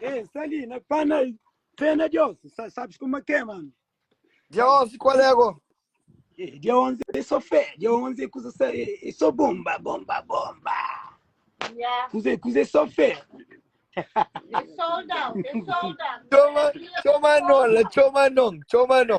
Ei, sta ali, na pana, fé na Deus. Sa- Sabes como é que é, mano? Dia 11, qual é agora? Eh, Dia 11 é só fé, dia 11 é coisa só, é, é só bomba, bomba, bomba. Yeah, Coisa, coisa é só fé. they sold out, they sold out. Chama, chama não, lá, chama não, chama não.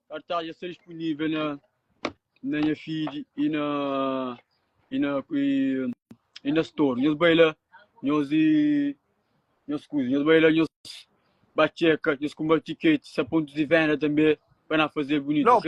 Kartaz dja sta dispunível na na nha feed i na i na i na store. Nhos bai la, nhos nhos kuza, nhos bai la, nhos ba txeka, nhos kunba tiketi, sa pontus di venda tanbe pa na faze bunitu, ok?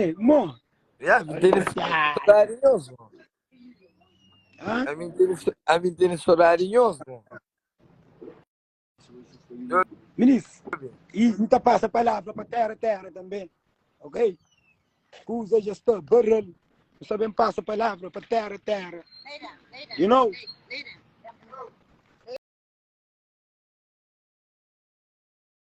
Ei, mo. Ya, mi teni saudade nhos, mo. Hã? A mi teni, a mi teni saudade nhos, mo. Minis, e não tá passa a palavra para terra, terra também, ok? Usa já está, barrel, não sabem passa a palavra para terra, terra. You know?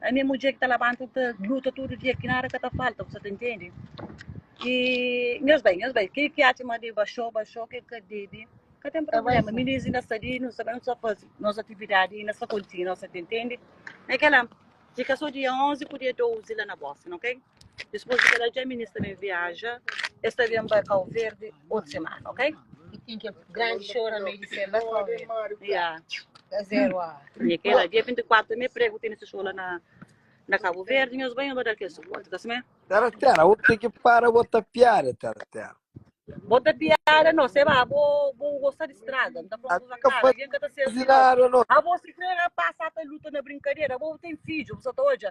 Ami é mudjer ki ta labanta, ta luta tudu dia ki nada ka ta falta, bu sa ta intendi. E nhos bai, nhos bai. Kel ki atxa ma debe baxou, baxou, kel ki ka debe, ka ten problema. Minis inda sta li, nu sa ben, nu sa faze nos atividadi, inda sa kontinua, bu sa ta intendi. Na kel la, fika sô dia 11 ku dia 12 la na Boston, ok? Dipôs di kel-la, dja minês ta ben viaja, es ta ben ba Kauverdi otu semana, ok? Ya. Nha Keila, dia 24 mé pregu tene se xou la na na Cabo Verde, nhos bai, nhos ba da-l kel suporti, ta simé? Tera-tera, bu ten ki para bo ta piada, tera-tera. Bo ta piada no, se ba bo bo gosta di strada, N ta fla-u Ata ka kuzakara, avion ka ta fazi sérvi no. nada, no. Abo si krê pasa ta luta na brinkadera, abo ten fidju, bu sa ta odja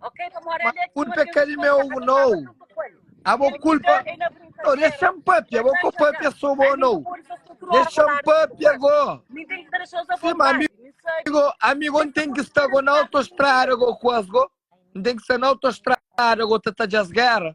Ma culpa é kel meu ou nau? Abo culpa Nau, dexa-m papia bo Ko papia so bo nau Dexa-m papia go Si ma amigo Amigo N ten ki sta go na autostrada go Kuas go N ten ki sta na autostrada go Ta ta djas gera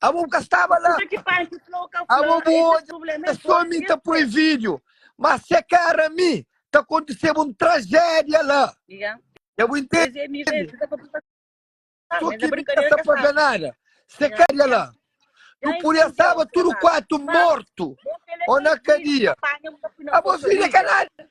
Abo bu ka staba la. Kuzê ki Panchi fla ô ka fla, Abo bu esse odja problema é sô mi ta poi vosso. vídio, má se kara mi ta kontiseba un trajédia la. Ya. Ya bu intende? Kuzê mi vê, mi ka ta pui pa Sô Mas é ki mi ka brincadeira sa que pabia sabe. nada. Se Ya, kara ya. la, nu Ya pudi entendeu, asaba tudu Fernando? kuatu Mas mortu. bom que ele Ô na fez vídeo, kadia. apanha um pouco na Abo força vídio é ka dele. nada.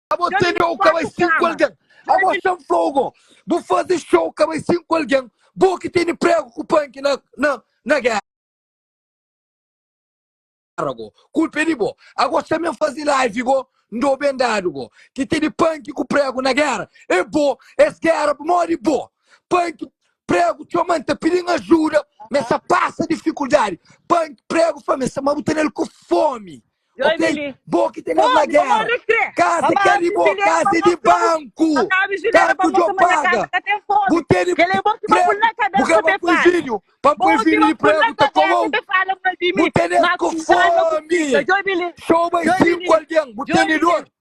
Abo Dja tene ou ka bai limpa-ku sinku kama. algen Dja Abo limpa. xan flou go Bu faze xou ka bai sinku algen Bo ki tene pregu ku panki na na na gera go Kulpa e di bo Ago xan ben faze live go Ndo ben dadu go Ki tene panki ku pregu na gera E bo Es gera pamodi bo Panki pregu txoma N ta pidi-m ajuda Mesa pasa difikuldadi Panki pregu fla mesa ma bu tenel ku fomi Ô pei, bo ki ta leva na géra Kaza ki é di bo, kaza é di banku Kartu djo paga Bu tene pregu, bu ka ba poi fidju Pa N poi fidju di pregu ta komou Bu tene es ku fomi Xoba i sinku algen, bu tene dor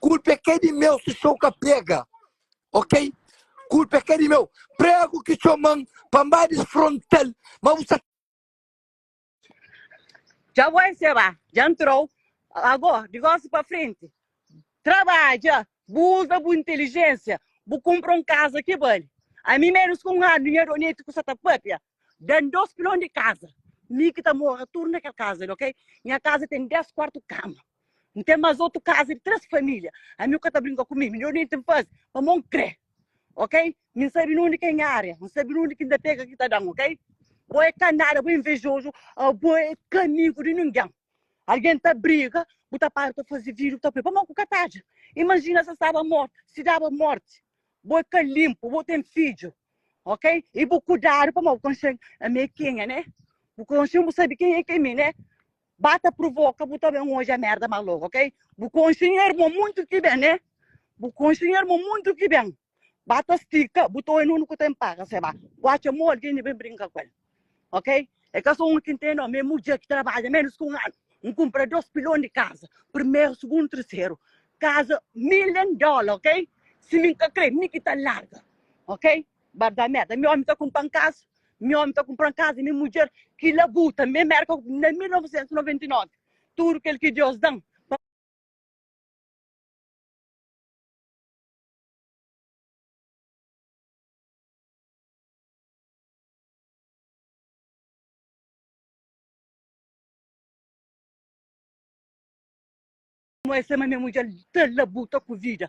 Kulpa é ka di meu si txeu ka pega Ok Kulpa é ka di meu Pregu ki txoman pa N ba disfrontal Ma bu sa Dja bo enseba, dja N trou Ago, divórsiu pa frenti Trabadja, bu uza bu inteligênsia Bu kunpra un kaza ki bali Ami ménus ku un anu Nha doneti ku sa ta pâpia Dan dos pilon di kaza mi ki ta mora tudu na kel kaza li ok nha kaza ten 10 kuartu kama n ten mas otu kaza di 3 familia ami bu ka ta brinka ku mi midjor nenti n faze pamo n kre ok mi n sabi nunde ki é nha ária n sabi nunde ki n ta pega ki ta dan ok bo é ka nada bo é invejozu abo é ka amigu di ningin algin ta briga bu ta para ta faze video bu ta poi pamo ku ka ta atxa imajina sa staba mortu si daba morti Bo é ka linpu, bo ten fidju, ok? I bu kudadu pamodi bu konxe ami é kenha, ne? Bu konxe-m, bu sabe kenha ki é mi, ne? Ba ta pruvoka bu ta ben odja merda más lógu, ok? Bu konxe nha irmon monti ki ben, ne? Bu konxe nha irmon monti ki ben. Ba ta stika, bu ta oi nunu ku ta inpaga, seba bu atxa mó algen di ben brinka ku el. Ok? É ka só un ki ntende ômi, é mudjer ki trabadja ménus ki un anu. N kunpra dôs pilon di kaza, primeru, sugundu, terseru. Kaza million dóla, ok? Si mi N ka krê, mi ki ta larga, ok? Bar da Mérda, mi ômi ta kunpra-m kaza, mi ômi ta kunpra-m kaza i mi mudjer ki labuta. Mi é Mérka na 1999, tudu kel ki Deus da-m. Mo ese ma me mudjer ta labuta ku vida.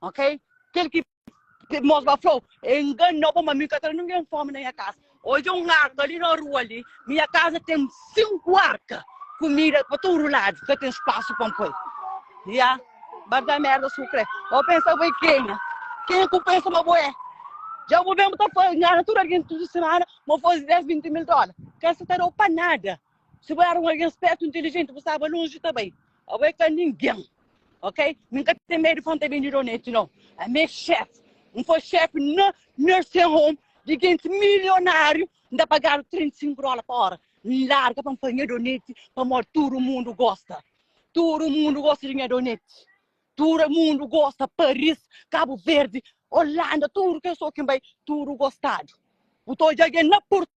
Ok? Kel ki mos ba flou, e enganou bo, ma mi ka tra ninguém fome na nha casa. Odja um arca ali na rua ali, minha casa tem cinco arca, comida pa tudo lado, ka tem espaço pa poi. Ya, ba da merda su crê. Bo pensa bo é quem? Quem é que pensa ma bo é? Já bo mesmo tá fazendo, engana tudo alguém tudo semana, mo fazer 10, 20 mil dólares. Quer se tá dou para nada. Si bu era un algen spértu, intilijenti, bu staba lonji ta bai. Abo é ka ningen, ok? Mi N ka ten medu di fla N ta ben di doneti, no. Ami é xef. N foi xef na nursing home di gentis milionariu, N ta pagadu 35 dola pa ora. N larga pa N fla nha doneti pamodi tudu mundu gosta. Tudu mundu gosta di nha doneti. Tudu mundu gosta, Paris, Kabu Verdi, Olanda, tudu kes oki N bai, tudu gostadu. Bu ta odja algen na Portugal.